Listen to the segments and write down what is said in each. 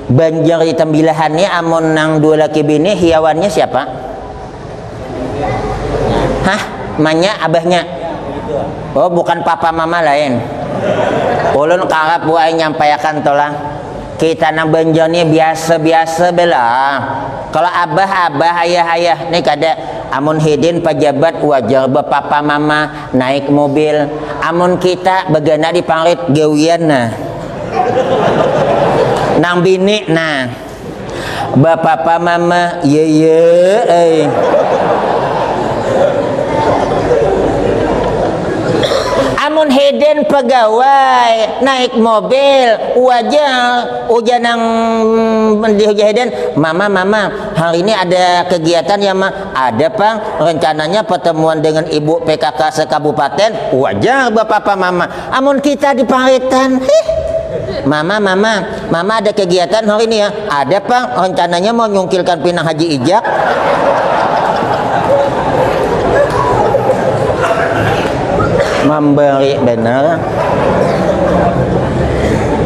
Banjar di Tambilahan ni amun nang dua laki bini hiawannya siapa? Hah? Manya abahnya? Oh bukan papa mama lain. Ulun karap bu ai nyampaiakan tu lah. Kita nang Banjar ni biasa-biasa bae lah. Kalo abah abah ayah ayah ni kada. Amun hidin pajabat wajar bapapa mama. Naik mobil, amun kita bagana di parit gawian nah. Nang bini nah. Bapapa mama, yeye ai. Amun hidin pagawai naik mobil, wajar ujar nang di hujah hidin, mama mama hari ini ada kegiatan ya ma. Ada pang rencananya pertemuan dengan ibu PKK sekabupaten, wajar bapapa mama. Amun kita di paretan, hih. Mama, mama, mama ada kegiatan hari ini ya? Ada pang, rencananya mau nyungkilkan pinang Haji Ijak. Memberi benar.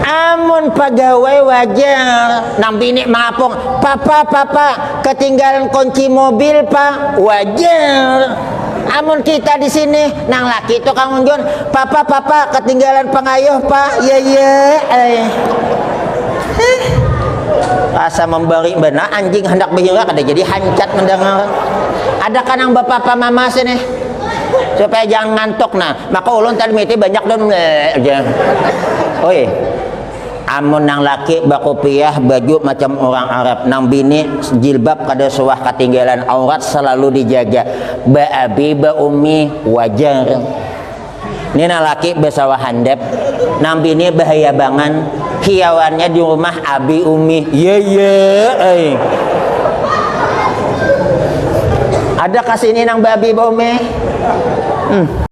Amun pegawai wajar, nang bini mengapung, papa, papa, Ketinggalan kunci mobil pak, wajar. Amun kita di sini, nang laki itu kang unjun, papa papa ketinggalan pengayuh pak, ya ya ai. Heh. Asa membari banar anjing handak bahira kada jadi hancat mendengar. Ada kah nang bapapa mama sini? Supaya jangan ngantuk nah, maka ulun tadi miti banyak dan aja. Oi. Amun nang laki bakupiah, baju macam urang Arab, nang bini jilbab kada suah katinggalan, aurat salalu dijaga, baabi baumi wajar. Ni nang laki basawa handap, nang bini bahayabangan, hiawannya di rumah abi umi, yaya ai. Adakah sini nang baabi baumi? Hm.